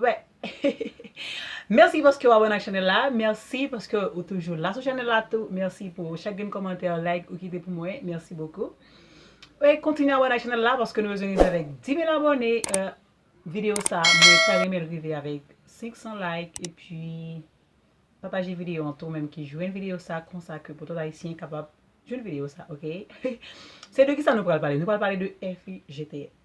Wè Merci paske ou abone ak chanel la Merci paske ou toujou la sou chanel la tou Merci pou chak grenn kòmantè like ou kite pou mwen Merci beaucoup Wè kontinye abone ak chanel la paske nou bezwen rive avèk 10000 abone Video sa mwen ta renmenl rive avèk 500 like epi Pataje video an tou menm ki jwenn video sa konsa ke pou tout ayisyen kapab jwenn video sa ok Se de kisa nou pral pale nou pral pale de FIGTN.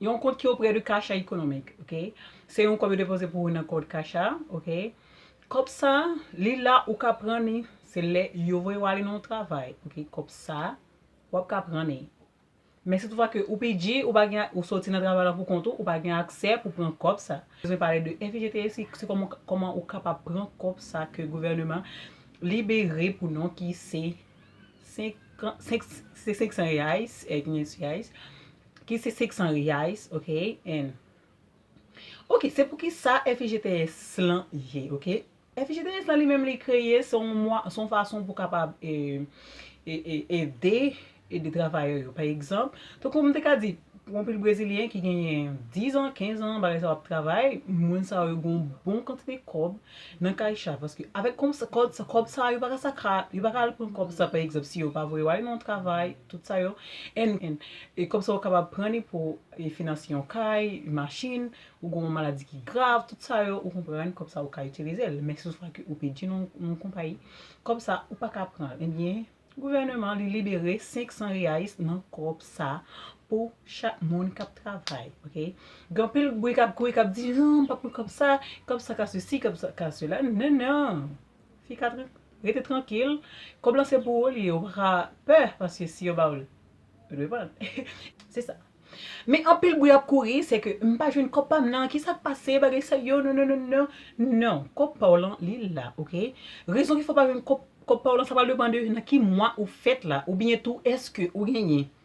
Yon kont ki oprè de Caixa Econômica, ok? Se yon kòb yo depoze pou ou nan kont Caixa, ok? Kòb sa, li la ou ka pran ni, se lè yo voye ou ale nan yon travay, ok? Kòb sa, wap ka pran ni. Men si toutfwa ke ou PG, ou pa gen, ou soti nan travay la pou kont ou, ou pa gen aksè pou pran kòb sa. Bezwen pale de FIGTS si, si kòman, kòman ou kapab pran kòb sa ke gouvèneman libere pou nou ki se 5, 5, se 500 reais, 500 reais, Ki se 600 reais ok and ok se pou ki sa FIGTS lan ye ok FIGTS lan li menm li kreye se yon mwa se yon fason pou kapab e e ede ede travayè yo pa egzanp tankou m te ka di pou anpil brezilyen ki genyen 10 an 15 an bagay sa yo ap travay moun sa yo gon bon kantite kòb nan kaycha paske avèk kòb sa yo pa ka sa ka yo pa ka al pran kòb sa pa egzanp si yo pa voye yo al nan yon travay Tout sa yo en en e kòb sa ou kapab pran li pou e finanse yon kay, yon machin, ou gen yon maladi ki grav, tout sa yo ou konprann kòb sa ou ka itilize l. Men si yon fwa ke ou pèdi nan yon konpayi, kòb sa ou paka pran l. Ebyen gouvèneman li libere 500 reais nan kòb sa pou chak moun kap travay ok. Gen anpil bri kap kouri kap di non m pa pran kòb sa, kòb sa ka sesi, kòb sa ka sela. Non non! Fi ka tran. Rete trankil, kob lan se pou ou li ye ou paka pè paske si yo ba ou l ou dwe pran l se sa. Men anpil bri ap kouri se ke m pa jwenn kob pa m nan, kisa k pase bagay sa yo nononnono non kob pa w lan li la ok rezon ki fè w pa jwenn kob pa w lan sa pral depan de nan ki mwa ou fèt la oubyen tou eske ou genyen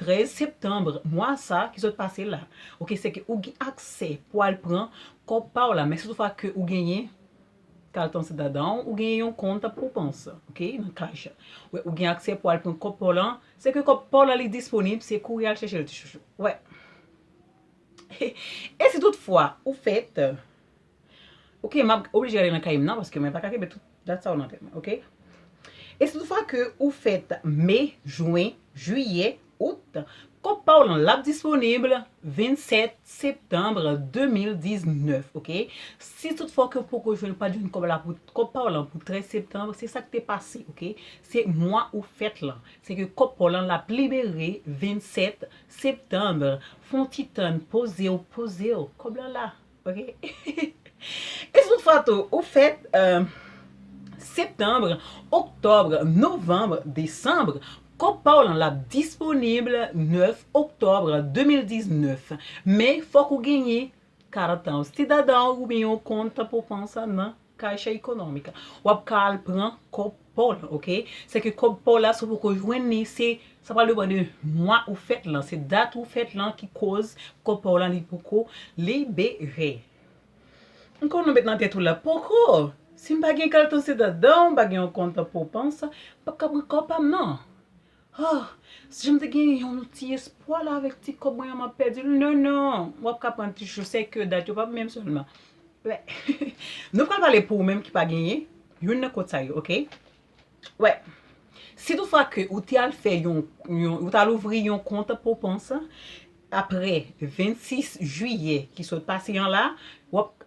13 septembre mwa sa ki sot pase la ok se ke ou gen aksè pou al pran kòb pa w la men si tou fwa ke ou genyen kaltan se dadan w ou genyen yon kont pou pans ok nan cash wè ou gen aksè pou al pran kòb pa w lan se ke kòb pa w lan li disponib se kouri al chèche l ti chouchou wè e si tout fwa ou fèt. Ok map oblije ale nan kay m nan paske mwen paka kenbe tout dat sa yo nan tèt mwen ok. E si tout fwa ke ou fèt Me, Jwen, Jiyè, Out, kont pa w lan lap disponib 27 Septanbre 2019 ok. Si tout fwa ke w poko jwenn pat jwenn kòb la pou kòb pa w lan pou 13 Septanbre se sak te pase ok. Se mwa ou fèt lan se ke kòb pa w lan lap libere 27 Septanbre fon ti tann poze w poze w kòb la la. Ok Esmond Fato ou fèt Septembre, Octobre, Novembre, Decembre Kòb pa w lan lap disponib 9 Octobre 2019 Men fòk ou genyen 40 ans Ti dada w oubyen yon kont pou pran sa nan Kache ekonomik. Wap ka al pran kob paw lan ok. Se ke kob paw la si w poko jwenn li se sa pral depan de mwa ou fèt lan. Se dat ou fèt lan ki koz kob paw lan li poko libere. M konnen w met nan tèt ou la poko. Si m pa gen kal tan se dat dan w pa gen yon kont pou w pans. M pap ka pran kob pa m nan. Huh! Sijan m te gen yon ti espwa la avèk ti kòb mwen an m ap pèdi l non non wap ka pran ti chou se ke dat yo pap menm sèlman wè nou pral pale pou ou menm ki pa genyen youn nan kòd sa yo ok wè si tou fwa ke ou te al fè yon ou t al ouvri yon kont pou pons aprè 26 jiyè ki sot pase an la wap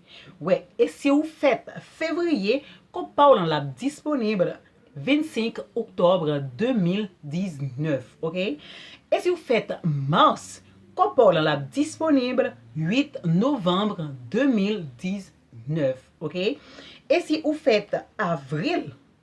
Wè e si ou fèt fevriye kont pa w lan lap disponib 25 oktòb 2019 ok e si ou fèt mas kont pa w lan lap disponib 8 novanb 2019 ok e si ou fèt avril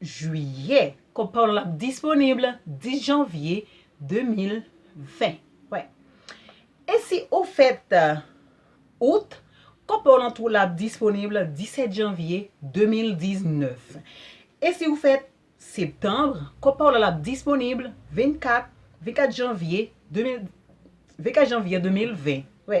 Jwiyè. Kòb pa w lan ap disponib 10 janvye 2020. Wè. E si ou fèt Out, kòb pa w lan tou la ap disponib 17 janvye 2019. E si ou fèt Septanb, kòb pa w lan ap disponib 24 janvye 2020. Wè.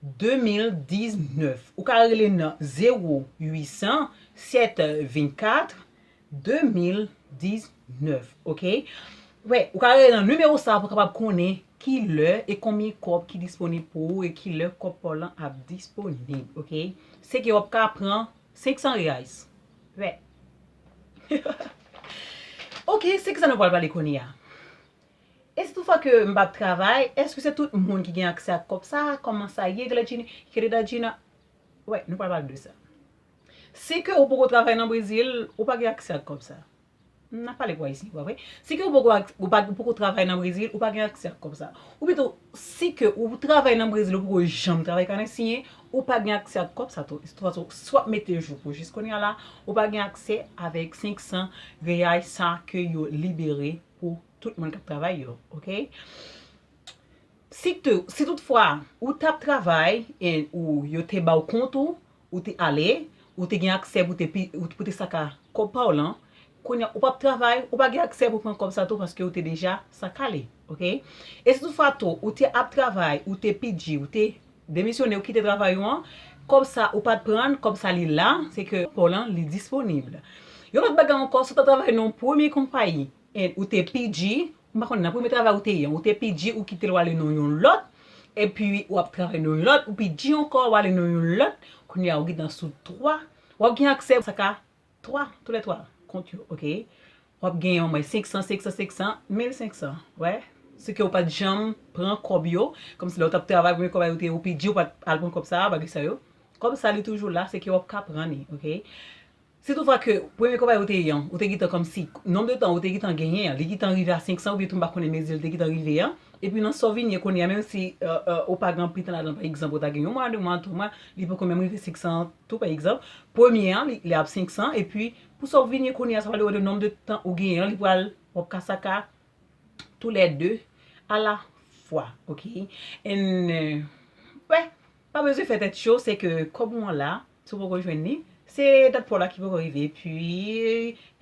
2019 ou ka rele nan 0 800 7 24 2019 ok wè ou ka rele nan nimewo sa pou kapab konnen kilè e konbyen kòb ki disponib pou ou e kilè kòb paw lan ap disponib ok sèke wap ka pran 500 reais wè ok se kisa nou pral pale kounye a E si tout fwa ke m pap travay, eske se tout moun ki gen aksè ak kòb sa a? Kòman sa ye Gladjine? Querida Gina, Wè, nou pral pale de sa. Si ke ou poko travay nan Brezil, ou pa gen aksè ak kòb sa. M ap pale pou Ayisyen, pa vre? Si ke ou poko travay nan Brezil, ou pa gen aksè ak kòb sa. Ou pito, si ke ou travay nan Brezil, ou poko janm travay kanen siyen, ou pa gen aksè ak kòb sa tou. Tout fason, si w ap mete jou pou jis kounya la, ou pa gen aksè avèk 500 reyay sa ke yo libere. pou tout moun kap travay yo ok si tout fwa ou tap travay e ou yo te baw kont ou ou te ale ou te gen aksè pou ou te saka kob paw lan kounya ou pap travay ou pa gen aksè pou pran kob sa tou paske ou te deja saka li ok e si tout fwa tou ou te ap travay ou te pidji ou te Demisyone ou kite travay ou an, kòb sa ou pat prann, kòb sa li la, se ke paw lan li disponibl. Yon lòt bagay ankò, si w ta travay nan yon premye konpayi and ou te PG, m pa konnen nan premye travay ou te ye an, ou te PG ou kite l w ale nan yon lòt, epi ou ap travay nan yon lòt, ou PG ankò wale nan yon lòt, kounye a ou gentan sou 3, wap gen aksè sa ka 3 tou lè 3 kont yo ok wap gen yon mwen 500 500 500 1500 wè se ke ou pat janm pran kòb yo kòm si lè ou tap travay premye kòb a yo te ou pi di ou pat al pran kòb sa bagay sa yo kòb sa li toujou la se ke wap ka pran li ok si tou fwa ke premye kòb a yo te yon ou te gentan kòm si nonb de tan ou te gentan genyen an li gentan rive a 500 oubyen tou m pa konnen mezi li te gentan rive an epi nan sa w vin ye kounye a menm si ou pa gen anpil tan ladan pa egzanp ou ta gen yon mwa 2 mwa 3 mwa li poko menm rive 500 Tou pa egzanp, premye an li ap 500 epi pou sa ou vin ye kounye a sa vle ou de nomb de tan ou genyen an li pral wap ka sa ka tou lè 2 a la fwa ok and wè pa bezwen fè tèt cho se ke kob ou an la si ou poko jwenn li se dat paw la ki poko rive epi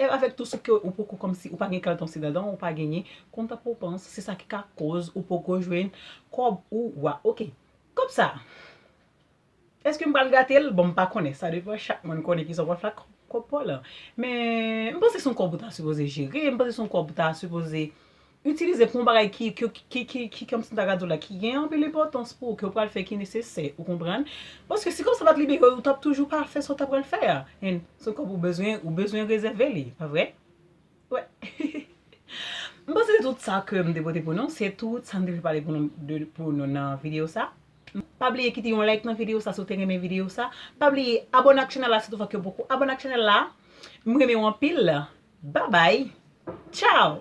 e avèk tou si ke ou poko kòmsi ou pa gen kalton si dandan ou pa genyen kontan pou panse se sa ki ka koz ou poko jwenn kob ou wa ok kob sa. Eske m pral gate l? Bon m pa konnen, sa depan chak moun konnen kisa w pral fè ak kòb pa w lan. Men, m panse se yon kòb ou ta sipoze jere, m panse se yon kòb ou ta sipoze itilize pou yon bagay ki, ki kòmsi m ta ka di w la, ki gen anpil enpòtans pou ou, ke w pral fè, ki nesesè, ou konprann? Paske si kòb sa pa t libere, ou t ap toujou pa fè sa w ta pral fè a. Se yon kòb ou bezwen, ou bezwen rezève li, pa vre? M panse se tout sa ke m te pote pou nou, se tout sa m te vle pale pou nou nan videyo sa. Pa bliye kite yon like nan videyo sa si w te renmen videyo sa. Pa bliye abone ak chanèl la si tou fwa ke w poko abone ak chanèl la. M renmen w anpil. Babay! Chow!